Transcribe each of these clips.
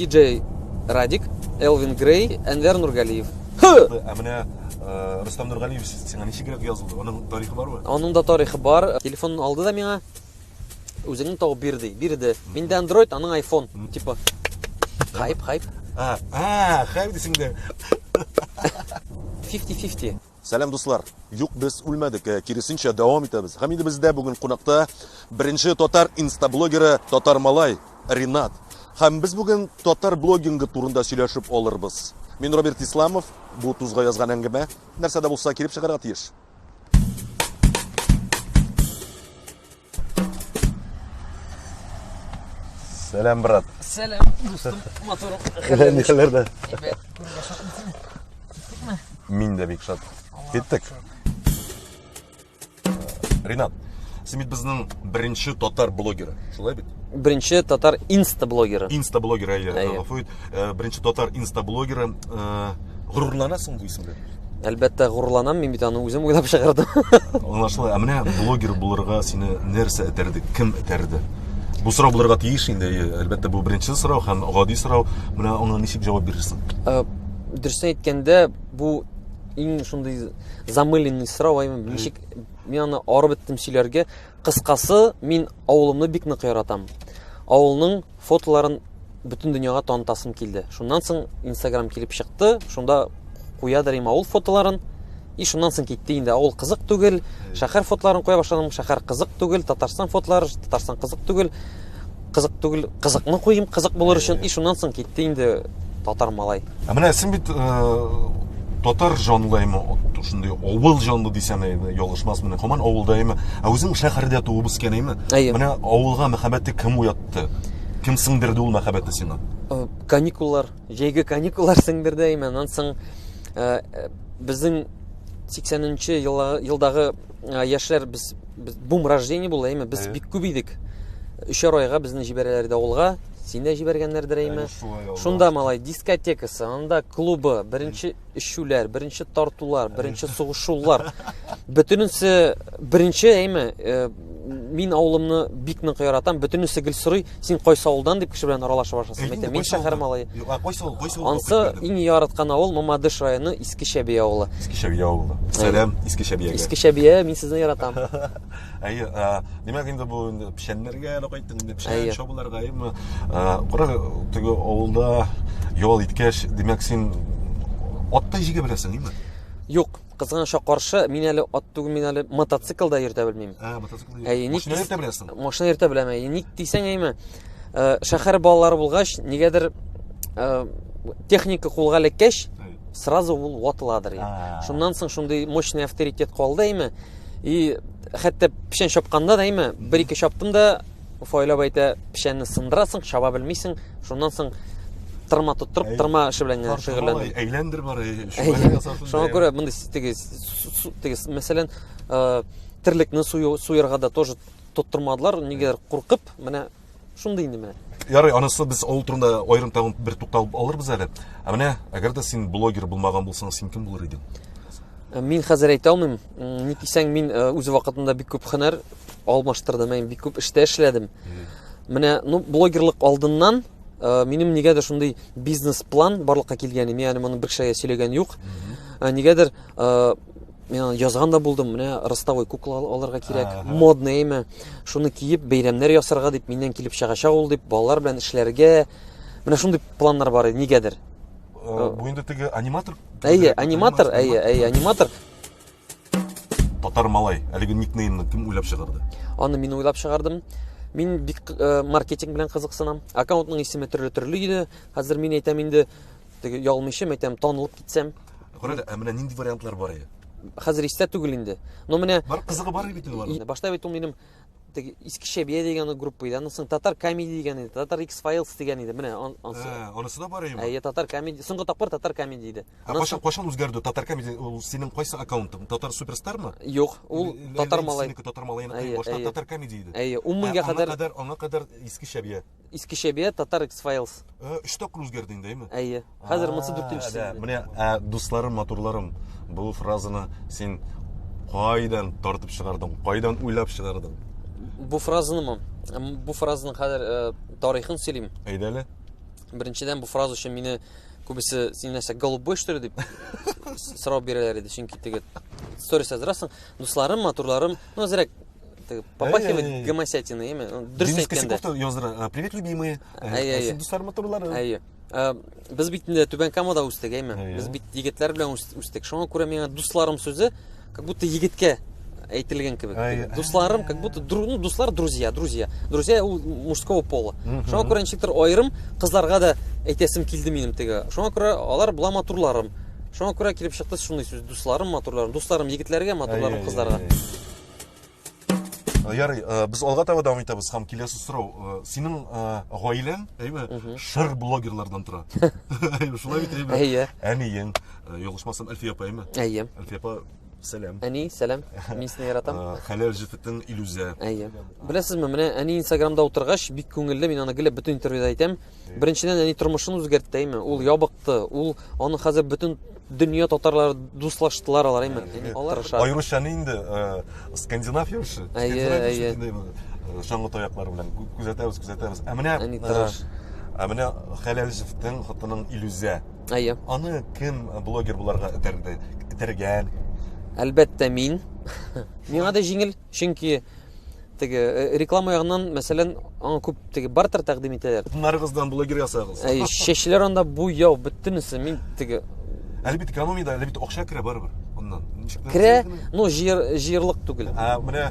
Диджей Радик, Элвин Грей, Әнвәр Нургалиев. Ә менә э, Рустам Нургалиев сиңа ничегрәк язылды? Аның тарихы бармы? Аның да тарихы бар. Телефонын алды да миңа. Үзеңне тауып бир ди. Бирде. Миндә Android, аның iPhone. Типа хайп, хайп. А, а, хайп дисең дә. 50-50. Сәлам дуслар! Юк, без үлмәдек, ә киресенчә дәвам итәбез. Һәм инде бездә бүген кунакта беренче татар инстаблогеры Татар Малай Ринат. Һәм без бүген татар блогингы турында сөйләшеп алырбыз. Мин Роберт Исламов, бу тузга язган әңгәмә. Нәрсә дә булса килеп чыгарга тиеш. Сәлам, брат. Сәлам, дустым, моторым. Нихәләрдә? Әйбәт, күрергә шатмысың? Киттекме? Мин дә бик шат. Киттек. Ринат, син бит безнең беренче татар блогеры, шулай бит? Беренче татар инста-блогеры. Инста-блогеры, әйе, гафу ит. Э, беренче татар инстаблогеры э, горурланасың бу исемгә әлбәттә горурланам мин бит аны үзем уйлап чыгардым аңлашыла ә менә блогер булырга сине нәрсә этәрде кем этәрде бу сорау булырга тиеш инде әлбәттә бу беренче сорау һәм гади сорау менә аңа ничек җавап бирерсең э, дөресен әйткәндә бу иң шундый замыленный сорау ничек мин аны арып беттем сөйләргә Кыскасы, мин авылымны бик нык яратам. Авылның фотоларын бөтен дөньяга танытасым килде. Шуннан соң Instagram килеп чыкты, шунда куядыр им авыл фотоларын. И шуннан соң китте инде авыл кызык түгел, шәһәр фотоларын куя башладым, шәһәр кызык түгел, Татарстан фотолары, Татарстан кызык түгел. Кызык түгел, кызыкны куйым, кызык булыр өчен. И шуннан соң китте инде татар малай. Ә менә син бит э, татар җанлы әйме, шундый авыл җанлы дисәм әйме, ялгышмас менә, һаман авылда әйме. Ә үзең шәһәрдә туып үскән әйме? Менә авылга мәхәббәтте кем уятты? Кем сеңдерде ул мәхәббәтне сиңа? Э, каникуллар, җәйге каникуллар сеңдерде әйме. Аннан соң э, безнең 80 нче елдагы яшьләр без, без бум рождение булды әйме без бик күп идек өчәр айга безне җибәрәләр иде авылга син дә җибәргәннәрдер әйме шунда малай дискотекасы анда клубы беренче эчүләр беренче тартулар беренче сугышулар бөтенесе беренче әйме мин авылымны бик нык яратам бөтенесе гел сорый Син кайсы авылдан дип кеше белән аралаша башласаң, әйтә, мин шәһәр малае. Юк, а кайсы авыл, кайсы авыл? Ансы иң яраткан авыл Мамадыш районы Иске Шәби авылы. Иске Шәби авылы. Сәлам Иске Шәбиягә. Иске Шәбия, мин сезне яратам. Әйе, димәк инде бу инде печәннәргә әле кайттык инде, печән чабуларга, әйеме? Кара, теге авылда ял иткәч, димәк син аттай җигә беләсең, әйеме? Юк, Кызганычка каршы, мин әле ат түгел, мин әле мотоцикл да йөртә белмим. Ә, мотоцикл йөртә. Әй, ник йөртә беләсең? Машина йөртә беләм. Әй, ник дисәң әйме? Э, шәһәр балалары булгач, нигәдер э, техника кулга эләккәч, сразу ул ватыладыр. Шуннан соң шундый мощный авторитет калды әйме? И хәтта печән чапканда да әйме, бер-ике чаптым да, Уфайлап әйтә, печәнне сындырасың, чаба белмисең, шуннан соң тырма тоттырып, тырма эше белән генә шөгыльләндем. Әйләндер бар, шуңа күрә мондый теге, теге, мәсәлән, э, терлекне суярга да тоже тоттырмадылар, нигәдер куркып, менә шундый инде менә. Ярый, анысы без авыл турында аерым тагын бер тукталып алырбыз әле. Ә менә, әгәр дә син блогер булмаган булсаң, син кем булыр идең? Э, мин хәзер әйтә алмыйм. Ни дисәң, мин э, үз вакытында бик күп хөнәр Алмаштырдым, мин бик күп эштә эшләдем. Менә, ну, блогерлык алдыннан э, минем нигәдер шундый бизнес-план барлыкка килгән, мин аны моны бер кешегә сөйләгән юк. Э, нигәдер э, мен язган да булдым, менә ростовой кукла алырга кирәк, модный имя, шуны киеп бәйрәмнәр ясарга дип, миннән килеп чыгачак ул дип, балалар белән эшләргә. Менә шундый планнар бар иде, нигәдер. Э, бу инде теге аниматор. Әйе, аниматор, әйе, әйе, аниматор. Татар малай, әлеге никнеймны кем уйлап чыгарды? Аны мин уйлап чыгардым. Мин бик э, маркетинг белән кызыксынам. Аккаунтның исеме төрле-төрле иде. Хәзер мин әйтәм инде, теге ялмыйча әйтәм, танылып китсәм. Күрәле, ә менә нинди вариантлар бар иде? Хәзер истә түгел инде. Но менә Бар кызыгы бар бит инде. Башта бит ул минем искечә бия дигән группа иде аннан соң татар комеди дигән иде татар икс файлс дигән иде менә анысы да бар иде әйе татар комеди соңгы тапкыр татар комеди иде кайчан кайчан үзгәрде татар комеди ул синең кайсы аккаунтың татар суперстармы юк ул татар малай синеке татар малайныкы башта татар комеди иде әйе ун меңгә кадәр аңа кадәр искечә бия Искечә бия, Татар X-Files. Э, өч тапкыр үзгәрде инде, әйме? Әйе. Хәзер монысы дүртенчесе. Менә ә, дусларым, матурларым, бу фразаны син кайдан тартып чыгардың, кайдан уйлап чыгардың? Бу фразанымы? Бу фразаның хәзер э, тарихын сөйлим. Әйдә әле. Беренчедән бу фраза өчен мине күбесе син нәрсә голубой что ли дип сорау бирәләр иде, чөнки теге сторис язрасың. Дусларым, матурларым, ну, зрәк Ты попахивает Әй, әй, әй. гомосятина, яме? Ну, Дөрес Денис әйткәндә. Косяков та яздыра. Ә, Привет, любимые. Ә, Әй, әй, әй. Син дуслар матурлары. Әйе. Ә, Без бит инде Түбән Камада үстек, әйме? Әйе. Без бит егетләр белән үс- үстек. Шуңа күрә миңа дусларым сүзе как будто егеткә әйтелгән кебек. Әйе. Дусларым как будто дру- ну, дуслар друзья, друзья. Друзья ул мужского пола. Мгм. Шуңа күрә ничектер аерым кызларга да әйтәсем килде минем теге. Шуңа күрә алар була матурларым. Шуңа күрә килеп чыкты шундый сүз. Дусларым матурларым, дусларым егетләргә, матурларым Әйе, кызларга. әйе, әйе. Э, ярый э, без алга таба дәвам итәбез һәм киләсе сорау э, синең гаиләң әйме шыр блогерлардан тора шулай бит әйме әйе әниең ялгышмасам әлфия апа әйме әйе әлфия апа сәлам әни сәлам мин сине яратам хәләл җефетең илүзә әйе беләсезме менә әни инстаграмда утыргач бик күңелле мин аны гел бөтен интервьюда әйтәм Беренчедән, әни тормышын үзгәртте, әйме. Ул ябыкты, ул аны хәзер бөтен дөнья татарлары дуслаштылар алар, әйме. Алар аеруча инде э, скандинав ярышы, скандинав ярышы чаңгы э, таяклар белән күзәтәбез, күзәтәбез. Ә менә әни э, тырыш. Ә менә Хәләлҗевтең хатының Илүзә. Әйе. Аны кем блогер буларга этәрде? Этәргән. Әлбәттә, мин. Миңа да җиңел. Чөнки теге э, реклама ягыннан, мәсәлән, аңа күп теге бартер тәкъдим итәләр. Нарыгыздан блогер ясагыз. Әй, чәчләр анда бу яу бөтенесе мин теге Әле бит экономия да, әле бит акча керә барыбер. Аннан. Керә, но җыер җыерлык түгел. Ә менә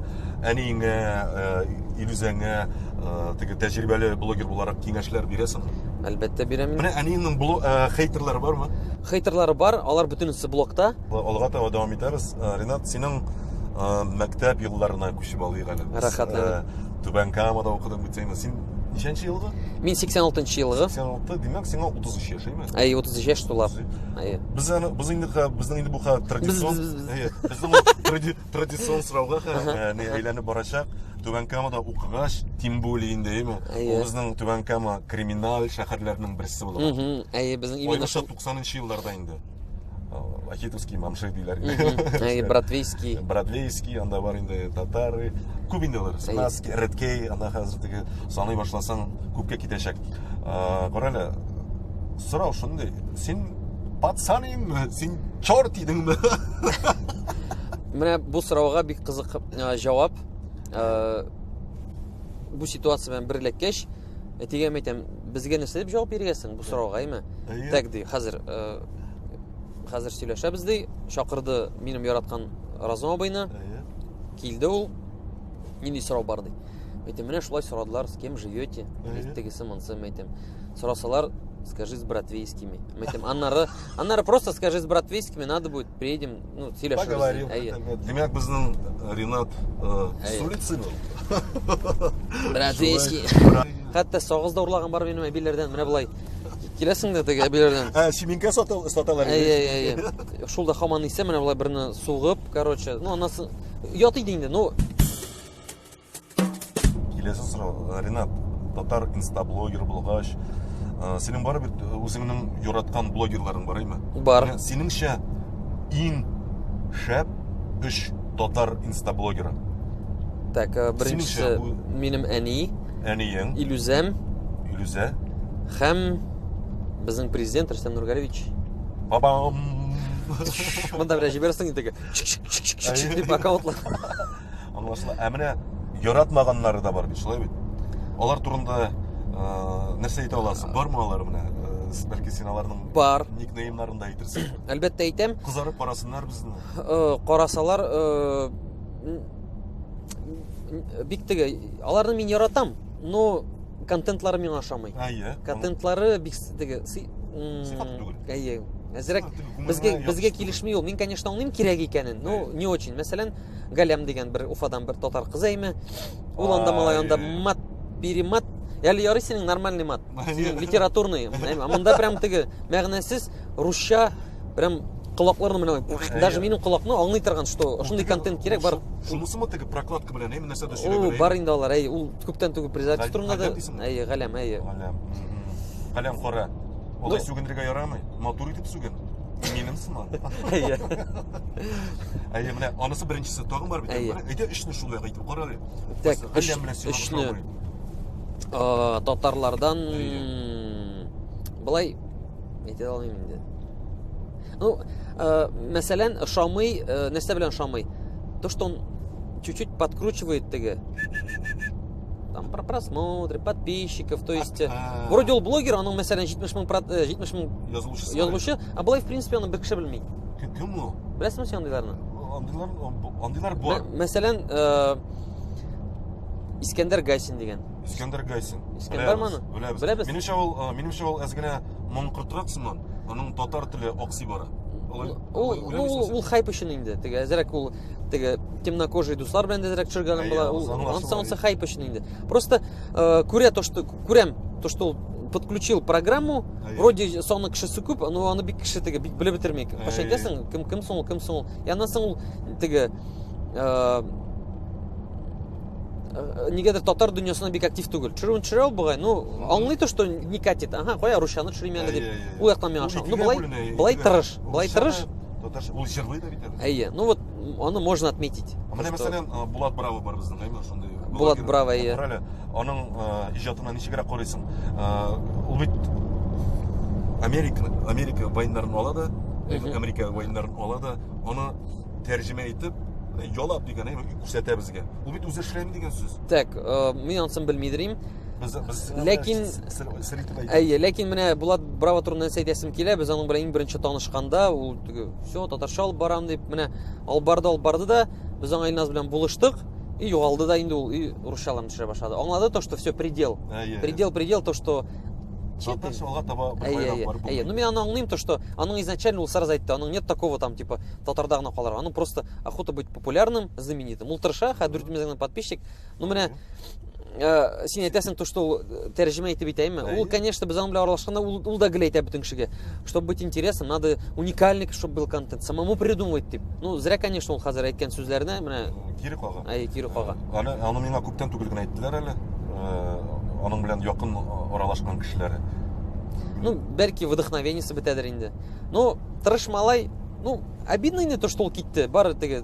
әниеңә, э, Илүзәңә э, теге тәҗрибәле блогер буларак киңәшләр бирәсең. Әлбәттә бирәм. Менә әниеңнең блог хейтерлары бармы? Хейтерлары бар, алар бөтенесе блокта. Алга таба дәвам итәбез. Э, Ренат, синең э, мәктәп елларына күчеп алыйк әле. Рәхәтләнеп. Э, Түбән Камада укыдың бит син. Син ничәнче елгы? Мин 86 елгы. 86, димәк, сиңа 33 яшь, әйме? Әй, 33 яшь тула. Әй. Без аны без инде безнең инде бу хәзер традицион. Безнең традицион сорауга хәзер не әйләнеп барачак. Түбән Камада укыгач, тем более инде, әйме? Ул безнең Түбән Кама криминаль шәһәрләренең берсе булган. Әй, безнең именно 90 нчы елларда инде. ахитовский мамши диләр инде бродвейский бродвейский анда бар инде татары күп инде алар снаски редкей анда хәзер теге саный башласаң күпкә китәчәк карале сорау шундый син пацан идеңме син черт идеңме менә бу сорауга бик кызык җавап бу ситуация белән бер эләккәч Әтигә мин әйтәм, безгә нәрсә дип җавап бирергә соң бу сорауга, әйме? Так ди, хәзер хәзер сөйләшәбез ди, чакырды минем яраткан Разум абыйны. Килде ул. Нинди сорау бар ди. Әйтем, менә шулай сорадылар, с кем живете? Тегесе монсы, мен әйтем. Сорасалар, скажи с братвейскими. Мен әйтем, аннары, аннары просто скажи с братвейскими, надо будет, приедем, Ну, сөйләшербез. Поговорим. Әйе. Димәк, безнең э, Ренат э, с улицы был? Братвейский. Хәтта сагыз да урлаган бар минем әбиләрдән, менә болай. Киләсең дә теге әбиләрдән. Ә, чиминкә саталар. Әйе, әйе, әйе. Шул да хаман исә менә болай берне сугып, короче, ну, анасы ят иде инде, ну, Киләсе сорау, э, Ренат, татар инстаблогер булгач, э, синең бар бит э, үзеңнең яраткан блогерларың бар име? Бар. Менә Синеңчә иң шәп өч татар инстаблогеры. Так, э, беренчесе Синеңчә бу- минем әни, Әниең, Илүзәм Илүзә, һәм безнең президент Рөстәм Нургалевич. бабам. Монда белән җибәрсең инде. Чик-чик-чик-чик дип аккаунтлар. Аңлашыла. Ә менә яратмаганнары да бар бит, шулай бит. Алар турында э, нәрсә әйтә аласың? Бармы алар менә? Э, бәлки син аларның бар никнеймнарын да әйтерсең. Әлбәттә әйтәм. Кызарып карасыннар безне. Э, карасалар бик теге аларны мин яратам, но контентлары миңа ошамый. Әйе. Контентлары бик теге сыйфат түгел. Әйе. Әзрәк безгә безгә килешми ул. Мин, конечно, аңлыйм кирәк икәнен, но не очень. Мәсәлән, Галям дигән бер Уфадан бер татар кыз әйме. Ул анда малай анда мат, перемат. Әле ярый синең нормальный мат. Литературный. Монда прям теге мәгънәсез русча прям колакларны менә даже минем колакны аңлый торган что ошондый контент кирәк бар шунысымы теге прокладка белән әйме нәрсәдә сөйләгән бар инде алар әй ул күптән түгел председатель турында да әй галәм әй галәм галәм кара алай сүгенергә ярамый матур итеп сүген минем сыман әйе әйе менә анысы беренчесе тагын бар бит әйдә өчне шулай әйтеп кара әле өчне татарлардан былай әйтә алмыйм инде ну мәсәлән ошамый нәрсә белән ошамый то что он чуть чуть подкручивает теге там про просмотры, подписчиков, то есть э, а. вроде ул блогер, аның мәсәлән 70 мең 70 мең язылучысы. Язылучы, а былай в принципе аны бер кеше белми. Кем ул? Беләсеңме син андыйларны? Андыйлар андыйлар бар. Мәсәлән, э, Искәндәр Гайсин дигән. Искәндәр Гайсин. Искәндәр маны? Беләбез. Беләбез. Минемчә ул, э, минемчә ул әз генә моңкыртрак сыман, аның татар теле аксый бара. Ул ул хайп өчен инде. Теге әзрәк ул теге темнокожий дуслар белән дә рәк төшергәнем була. Ансы ансы хайп өчен инде. Просто э, күрә то, что күрәм, то, что ул подключил программу, Ай. вроде саны кешесе күп, но аны бик кеше теге бик белеп бетерми. Каш әйтәсең, кем кем соң, кем соң. Я аннан соң ул теге э, э, нигәдер татар дөньясына бик актив түгел. Төшерүен төшерә ул бугай, ну, аңлый то, что не катит. Ага, кая русчаны төшерим әле дип. Ул яктан миңа ошамый. Ну, былай, былай тырыш, былай тырыш. Татарча, ул җырлый да бит. Әйе, ну вот аны можно отметить. Менә мәсәлән, э, Булат Браво бар безнең, әйме, шундый. Булат Браво, әйе. Әле аның э, иҗатына ничегрәк карыйсың? Э, ул бит Америка, Америка войннарын ала да, Америка войннарын ала да, аны тәрҗемә итеп, ялап дигән, әйме, күрсәтә безгә. Ул бит үзе эшләми дигән сүз. Так, мин ансын белмидерим. Без без Ләкин әйе, ләкин менә Булат Браво турында әйтәсем килә, без аның белән иң беренче танышканда, ул Теге, все, татарча алып барам дип, менә алып барды, алып барды да, без аңа Илназ белән булыштык. И югалды да инде ул, и русчаларын төшерә башлады. Аңлады то, что все предел. Әйе. Предел, предел, то, что Татарча алга таба бер байрак бар бу. Әйе, ну мин аны аңлыйм, то, что аның изначально ул сразу әйтте, аның нет такого там, типа, татарда гына калыр. Аның просто охота быть популярным, знаменитым. Ул тырыша, хәзер 4 миллион подписчик, Ну менә э, син әйтәсең то что ул тәрҗемә итеп әйтәйме ул конечно без аның белән аралашканда ул, ул да гел әйтә бөтен кешегә чтобы быть интересным надо уникальный чтобы был контент самому придумывать дип ну зря конечно ул хәзер әйткән сүзләренә менә кире кага әй кире кага әле аны миңа күптән түгел генә әйттеләр әле э, аның белән якын аралашкан кешеләре ну бәлки вдохновениесе бетәдер инде ну тырыш малай ну обидно инде то что ул китте бары теге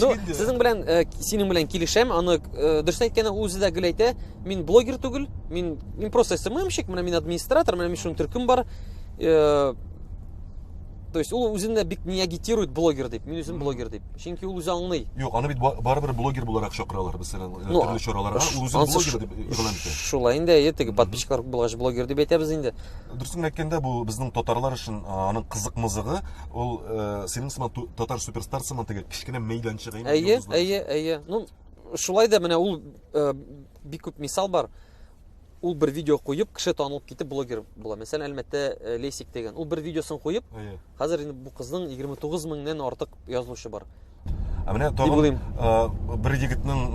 Ну, сезнең белән э, синең белән килешәм. Аны э, дөрес әйткәне үзе дә гел әйтә. Мин блогер түгел. Мин мин просто СММщик, менә мин администратор, менә мин шуның төркем бар. Э, то есть ул үзен дә бик не агитирует блогер дип. Мин үзем блогер дип. Чөнки ул үзе аңлый. Юк, аны бит барыбер блогер буларак чакыралар мәсәлән, э, ну, төрле чараларга. Ул үзе блогер дип игълан итә. Шулай инде, әйе, теге подписчиклар булгач блогер дип әйтәбез инде. Дөресен әйткәндә, бу безнең татарлар өчен аның кызык-мызыгы Ул э, синең сыман ту- татар суперстар сыман теге кечкенә мәйданчыгы. инде Әйе, йолдызлар. әйе, әйе. Ну, шулай да менә ул э, бик күп мисал бар. Ул бер видео куеп, кеше танылып китеп блогер була. Мәсәлән, Әлмәттә э, Лейсик дигән. Ул бер видеосын куеп, Әйе. хәзер инде бу кызның 29 меңнән артык язылучы бар. Ә менә тагын бер егетнең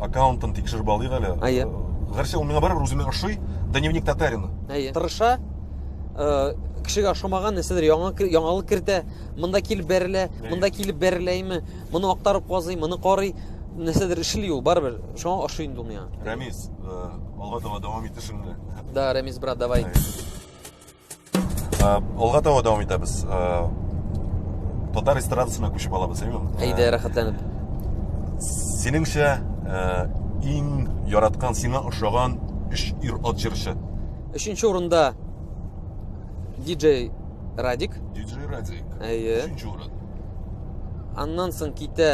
аккаунтын тикшереп алыйк әле. Әйе. Гәрчә ул миңа барыбер үземә ошый, Дневник татарина. Әйе. Тырыша, кешегә ошамаган нәрсәдер яңа яңалык кертә, монда килеп бәрелә, монда килеп бәреләйме, моны актарып казый, моны карый, нәрсәдер эшли ул, барыбер. Шуңа ошый инде ул миңа. Рәмис, алга таба дәвам итешеңне. Да, Рәмис брат, давай. алга таба дәвам итәбез татар эстрадасына күчеп алабыз әйеме әйдә рәхәтләнеп синеңчә иң яраткан сиңа ошаган өч ир ат җырчы өченче урында диджей радик диджей радик әйе өченче урын аннан соң китә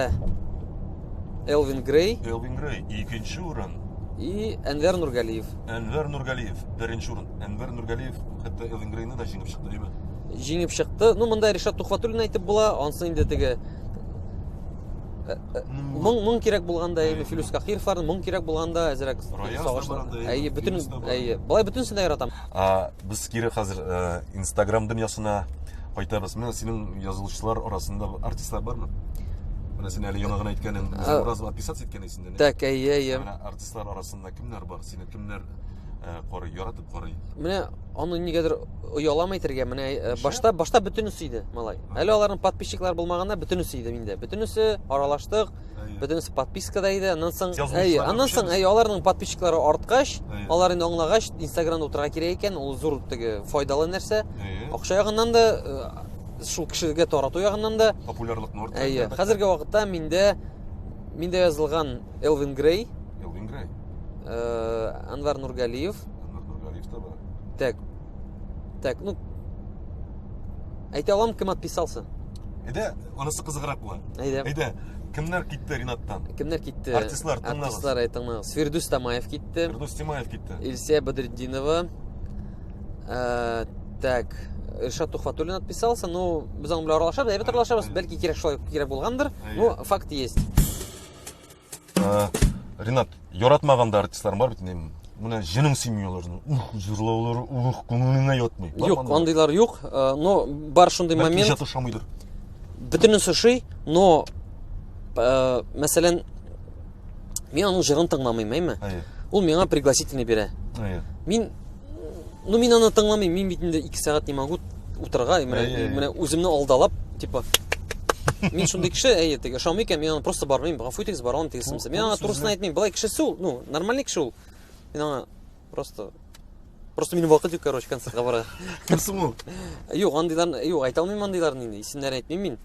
элвин грей элвин грей икенче урын и әнвәр нургалиев әнвәр нургалиев беренче урын Әнвәр Нургалиев хәтта Эллен Грейны да җиңеп чыкты, әйбәт. Җиңеп чыкты. Ну, монда Ришат Тухватуллин әйтеп була, ансын инде теге э, э, моң моң кирәк булганда яме Филүс Кахировларны моң кирәк булганда әзрәк сагышлы. Әйе, бөтен әйе. Болай бөтенсен дә яратам. А без кире хәзер э, Instagram дөньясына кайтабыз. Менә синең язылышлар арасында артистлар бармы? Менә син әле яңа гына әйткәнең, Муразов отписаться иткән исендә. Так, әйе, әйе. Менә артистлар арасында Ә кемнәр бар? Сине кемнәр э, карый, яратып карый? Менә аны нигәдер оялам әйтергә, менә э, башта башта бөтенесе иде, малай. Әле аларның подписчиклар булмаганда бөтенесе иде инде. Бөтенесе аралаштык, бөтенесе подпискада иде. Аннан соң, әйе, аннан соң, әйе, аларның подписчиклары арткач, алар инде аңлагач, Инстаграмда утырга кирәк икән, ул зур теге файдалы нәрсә. Акча ягыннан да э, шул кешегә тарату ягыннан да популярлыкны арттырды. Әйе, хәзерге вакытта миндә миндә язылган Элвин Грей. Элвин Грей. Э, Анвар Нургалиев. Анвар Нургалиев та бар. Так. Так, ну, әйтә алам, кем отписался. Әйдә, анысы кызыграк була. Әйдә. Әйдә, кемнәр китте Ринаттан? Кемнәр китте? Артистлар, тыңлагыз. Артистлар, әйтеңме? Свердус Тамаев китте. Свердус Тамаев китте. Илсия Бадретдинова. Э, так, Иршат Тухватуллин отписался, ну, без аның белән аралашабыз, әйбәт аралашабыз, бәлки кирәк шулай кирәк булгандыр, но факт есть. Ә, Ринат, яратмаганда артистларың бар бит инде. Менә җенең сыймый аларның. Ух, җырлаулары, ух, күңелеңә ятмый. Бар Юк, мандый? андыйлар юк, э, но бар шундый Бәлки момент. иҗат ошамыйдыр. Бөтенесе ошый, но э, мәсәлән, мин аның җырын тыңламыйм, әйме? Әйе. Ул миңа пригласительный бирә. Әйе. Мин Ну, мин аны тыңламыйм, мин бит инде 2 сәгать не могу утырга, менә Әй, әй. менә үземне алдалап, типа Мин шундый кеше, әйе, теге ошамый икән, мин аны просто бармыйм, гафу итегез, бара алмыйм тегесемсә. Мин аңа турысын әйтмим, былай кешесе ул, ну, нормальный кеше ул. Мин аңа просто Просто минем вакыт юк, короче, концертка бара. Кем соң ул? Юк, андыйларны, юк, әйтә алмыйм андыйларны инде, исемнәрен әйтмим мин.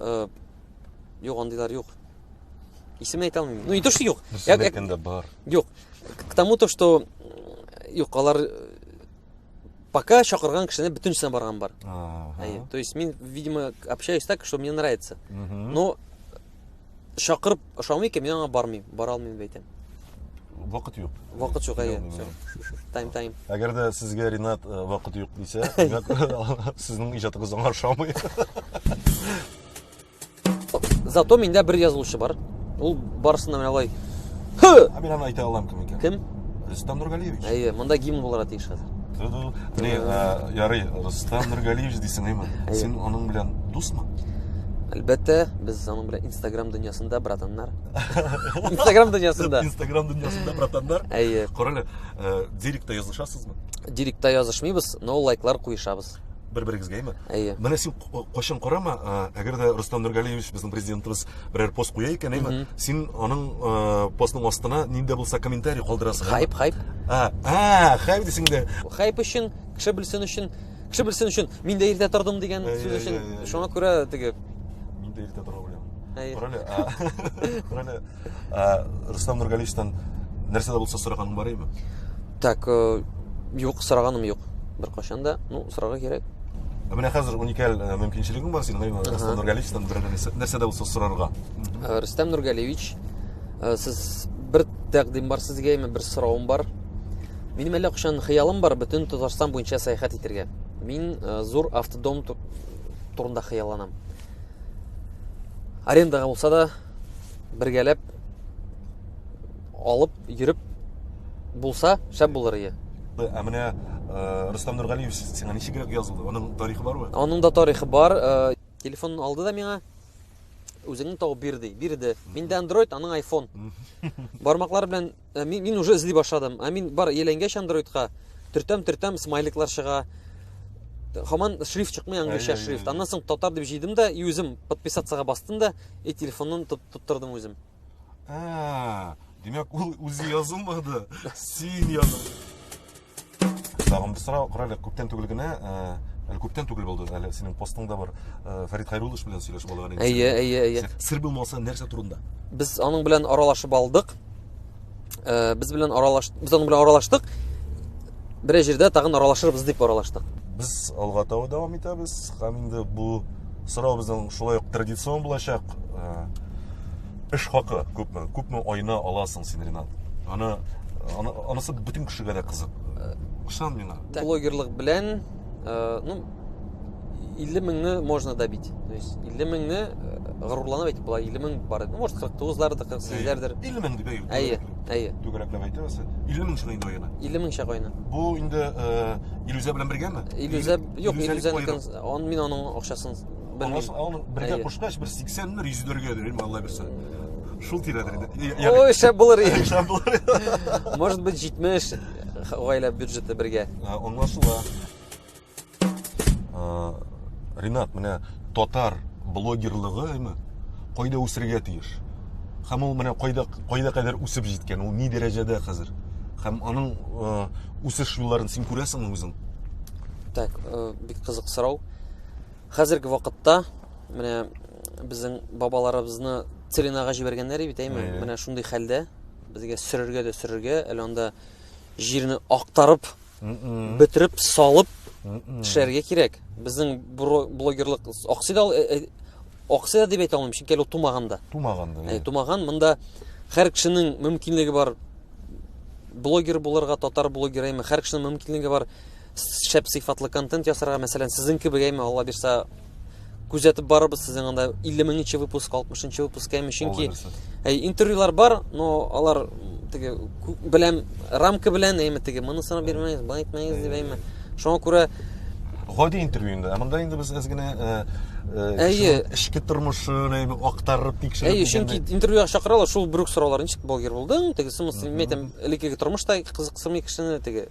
Э, Юк, андыйлар юк. Исемен әйтә алмыйм. Ну, не то, что юк. Без Як- як- әйткәндә бар. Юк, к тому то что юк алар э, пока чакырган кешене бөтенесенә барган бар ага. то есть мин видимо общаюсь так что мне нравится но чакырып ошамый икән мин аңа бармыйм бара алмыйм дип әйтәм вакыт юк вакыт юк әйе тайм тайм әгәр дә сезгә ринат э, вакыт юк дисә димәк сезнең иҗатыгыз аңа ошамый Зато миндә бер язылучы бар. Ул барысында менә алай. Һы! Ә мин аны әйтә алам кем икән? Кем? Рөстәм Нургалиевич. Әйе, монда гимн булырга тиеш хәзер. Ни, э, ярый, Рөстәм Нургалиевич дисең, әйме? Син аның белән дусмы? Әлбәттә, без аның белән Instagram дөньясында братаннар. Instagram дөньясында. Instagram дөньясында братаннар. Әйе. Карале, э, директә язышасызмы? Директә язышмыйбыз, но лайклар куешабыз. бер берегезгә әйме әйе менә син кайчан карама әгәр дә рөстәм нургалиевич безнең президентыбыз берәр пост куя икән әйме син аның постның астына нинди дә булса комментарий калдырасың хайп хайп а хайп дисең дә хайп өчен кеше белсен өчен кеше белсен өчен мин дә иртә тордым дигән сүз өчен шуңа күрә теге мин дә иртә тора беләм Короле, короле. Ә, Рустам Нургалиевтан нәрсә дә булса сораганың бар име? Так, э, юк, сораганым юк. Бер кашан да, ну, сорарга кирәк. Ә менә хәзер уникаль э, мөмкинчелегең бар синең, әйе, Рустам Нургалиевтан бер нәрсә дә булса сорарга. Э, Рустам Нургалиевич, э, сез бер тәкъдим бар сезгә, яме бер соравым бар. Минем әллә кашан хыялым бар бөтен Татарстан буенча сәяхәт итергә. Мин зур автодом турында хыялланам. Арендага булса да, бергәләп алып йөреп булса шәп булыр ие ә менә э, рөстәм нургалиев сиңа ничегрәк язылды аның тарихы бармы аның да тарихы бар э, телефонын алды да миңа үзеңне тауып бир ди бирде миндә андроид аның айфон бармаклар белән Ә мин, мин уже эзли башладым. Ә мин бар еләнгәч андроидка төртәм-төртәм смайликлар чыга. Хаман шрифт чыкмый английча шрифт. Аннан соң татар дип җыйдым да и үзем подписаться бастым да и телефонын тоттырдым үзем. Ә, димәк ул үзе язылмады. Син языл. Тагын бер сорау, кара әле, күптән түгел генә, әле күптән түгел булды, әле синең постыңда бар, Фәрит Хайруллович белән сөйләшеп алган идек. Әйе, әйе, әйе. Сер булмаса, нәрсә турында? Без аның белән аралашып алдык. Без белән аралаш, без аның белән аралаштык. Бер җирдә тагын аралашырбыз дип аралаштык. Без алга таба дәвам итәбез. Һәм инде бу сорау безнең шулай ук традицион булачак. Эш хакы күпме? Күпме айына аласың син, Ренат? Аны аны анысы бөтен кешегә дә кызык. Ышан миңа. Блогерлык белән, э, ну, 50 меңне можно добить. То есть 50 меңне э, горурланып әйтеп була, 50 мең бар. Ну, может 49-лардыр, 48-ләрдер. 50 мең дип әйтү. Әйе, әйе. Түгәрәкләп әйтәбез. 50 мең шуны инде аена. 50 мең чак аена. Бу инде э, иллюзия белән бергәме? Иллюзия, юк, иллюзия он мин аның акчасын Алласын алын бергә кушкач бер 80 мер 100 дөргә дөрим Алла берсе. Шул тирәдә инде. Ой, шәп булыр иде. Шәп булыр. Может быть 70 гаилә бюджеты бергә. Аңлашыла. Ринат, менә татар блогерлыгы әйме? Кайда үсергә тиеш? Хәм ул менә кайда кайда кадәр үсеп җиткән? Ул ни дәрәҗәдә хәзер? Хәм аның үсеш юлларын син күрәсеңме үзең? Так, бик кызык сорау. Хәзерге вакытта менә безнең бабаларыбызны целинага җибәргәннәр бит, әйме? Менә шундый хәлдә безгә сөрергә дә сөрергә, әле анда җирне актарып, бөтереп, салып төшәргә кирәк. Безнең блогерлык аксый да аксый да дип әйтә алмыйм, чөнки әле тумаган да. Тумаган да. Ә, тумаган, монда һәр кешенең мөмкинлеге бар блогер булырга, татар блогеры, әйме, һәр кешенең мөмкинлеге бар шәп сыйфатлы контент ясарга, мәсәлән, сезнең кебек әйме, Алла бирсә, күзәтеп барырбыз сезнең анда 50 меңнче выпуск, 60 нчы выпуск әйме, чөнки әй, интервьюлар бар, но алар теге белән рамка белән әйме теге, монысына бирмәгез, бай әйтмәгез дип әйме. Шуңа күрә гади интервью инде. Ә монда инде без әзгенә э, э, әйе эчке тормышын әйме актарып тикшереп. Әйе, чөнки интервьюга чакыралар, шул бер үк сораулар, ничек блогер булдың, тегесе, мин әйтәм, элеккеге тормышта кызыксырмый кешене теге